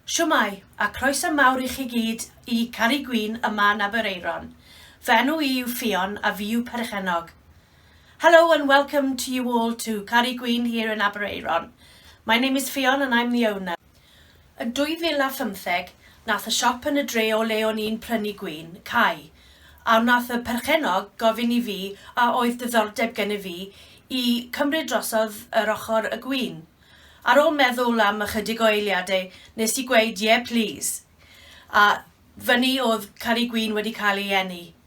Shwmae, a croeso mawr i chi gyd i Carri Gwin yma yn Aberaeron. Fy enw i yw Ffion a fi yw perchennog. Hello and welcome to you all to Carri Gwin here in Aberaeron. My name is Ffion and I'm the owner. Yn 2015, nath y siop yn y dre o le o'n i'n prynu gwin, cau, a wnath y perchennog gofyn i fi a oedd diddordeb gennyf fi i cymryd drosodd yr ochr y gwin. Ar ôl meddwl am ychydig o eiliadau, nes i gweud 'ie plîs', a fyny oedd Carri Gwin wedi cael ei eni.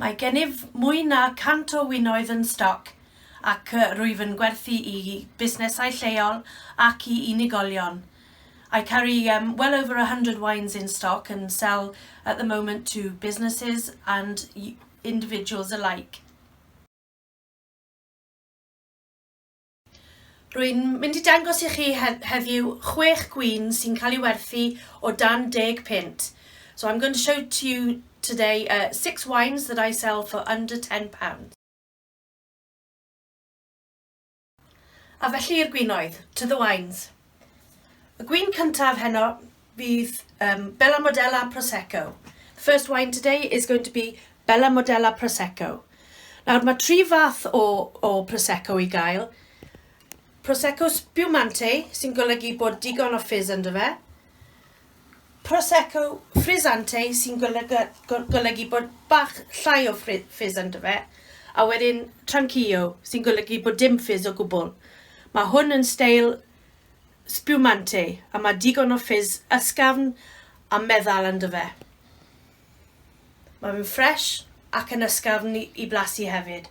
Mae gennyf mwy na 100 o winoedd yn stoc ac rwyf yn gwerthu i busnesau lleol ac i unigolion. I carry um, well over 100 wines in stock and sell at the moment to businesses and individuals alike. Rwy'n mynd i dangos i chi heddiw chwech gwin sy'n cael ei werthu o dan deg punt. So I'm going to show to you today uh, six wines that I sell for under ten pounds. A felly i'r gwinoedd, to the wines. Y gwin cyntaf heno fydd um, Bella Modella Prosecco. The first wine today is going to be Bella Modella Prosecco. Nawr mae tri fath o, o Prosecco i gael. Prosecco Spumante sy'n golygu bod digon o fizz ynddo fe. Prosecco Frizzante sy'n golygu, golygu bod bach llai o ffis ynddo fe, a wedyn Tranquillo sy'n golygu bod dim ffis o gwbl. Mae hwn yn steil spumante a mae digon o ffis ysgafn a meddal ynddo fe. Mae fe'n ffres ac yn ysgafn i, i blasu hefyd.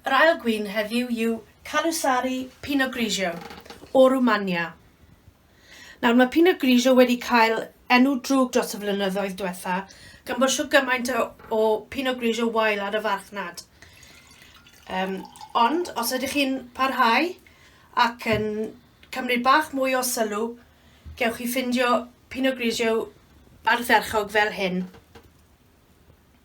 Yr ail gwin heddiw yw Calusari Pinot Grigio o Rwmania. Nawr mae Pinot Grigio wedi cael enw drwg dros y flynyddoedd diwetha gan bod siw gymaint o, o Pinot Grigio wael ar y farchnad. Um, ond os ydych chi'n parhau ac yn cymryd bach mwy o sylw, gewch chi ffindio Pinot Grigio ardderchog fel hyn.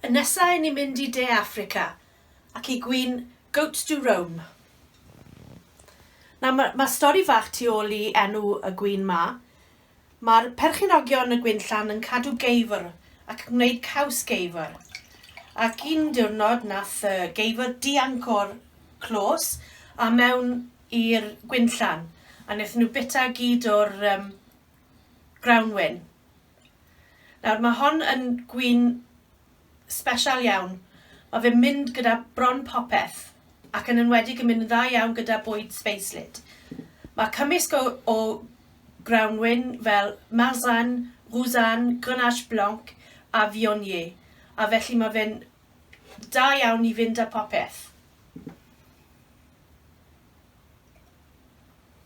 Yn nesa i ni mynd i De Affrica ac i gwin Goat du Rhum. Nawr ma' ma' stori fach tu ôl i enw y gwin 'ma. Ma'r perchenogion y gwinllan yn cadw geifr ac yn gwneud caws geifr. Ac un diwrnod nath y geifr dianc o'r clos a mewn i'r gwinllan a nethon nhw bita gyd o'r yym Grawnwin. Nawr mae hon yn gwin sbesial iawn. Mae fe'n mynd gyda bron popeth ac yn enwedig yn mynd yn dda iawn gyda bwyd sbeislyd. Mae cymysg o, o grawnwin fel Marsanne, Roussanne, Grenache Blanc a Viognier a felly mae fe'n da iawn i fynd â popeth.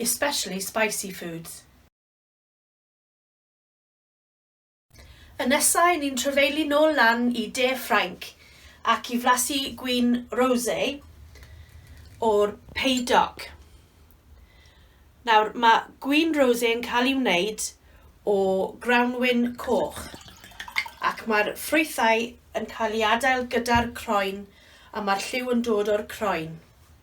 especially spicy foods. Y nesa i ni'n trafeilu nôl lan i de Ffrainc ac i flasu gwin rosé o'r Pays d'Oc. Nawr, mae gwin rosé yn cael ei wneud o grawnwin coch ac mae'r ffrwythau yn cael ei adael gyda'r croen a mae'r lliw yn dod o'r croen.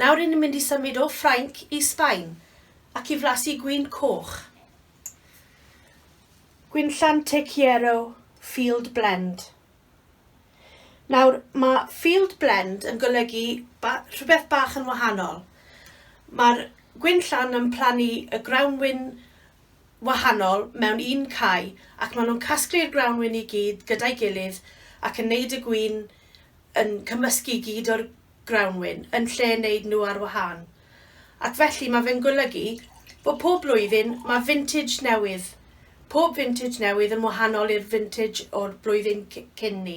Nawr ry'n ni'n mynd i symud o Ffrainc i Sbaen ac i flasu gwin coch. Gwin llan Tequiero Field Blend. Nawr, mae Field Blend yn golygu ba rhywbeth bach yn wahanol. Mae'r gwin llan yn plannu y grawnwin wahanol mewn un cae ac maen nhw'n casglu'r grawnwin i gyd gyda'i gilydd ac yn neud y gwin yn cymysgu i gyd o'r grawnwin yn lle neud nhw ar wahân. Ac felly mae fe'n golygu bod pob blwyddyn mae vintage newydd, pob vintage newydd yn wahanol i'r vintage o'r blwyddyn cyn 'ny.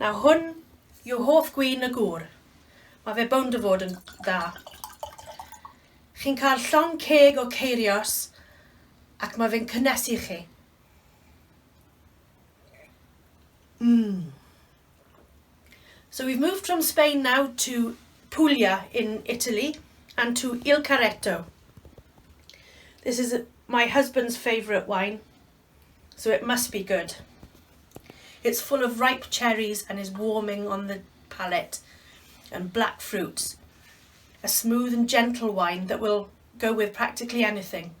Nawr hwn yw hoff gwin y gŵr. Mae fe bownd o fod yn dda. Chi'n cael llong ceg o ceirios ac mae fe'n cynnesu chi. Mmm. So we've moved from Spain now to Puglia in Italy and to Il Carretto. This is my husband's favourite wine. So it must be good. It's full of ripe cherries and is warming on the palate and black fruits. A smooth and gentle wine that will go with practically anything.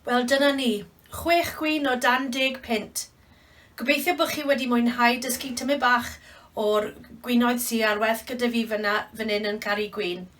Wel dyna ni, chwech gwyn o dan deg pint. Gobeithio bod chi wedi mwynhau dysgu tymu bach o'r gwinoedd sy ar werth gyda fi fyna, fan hyn yn Caru Gwyn.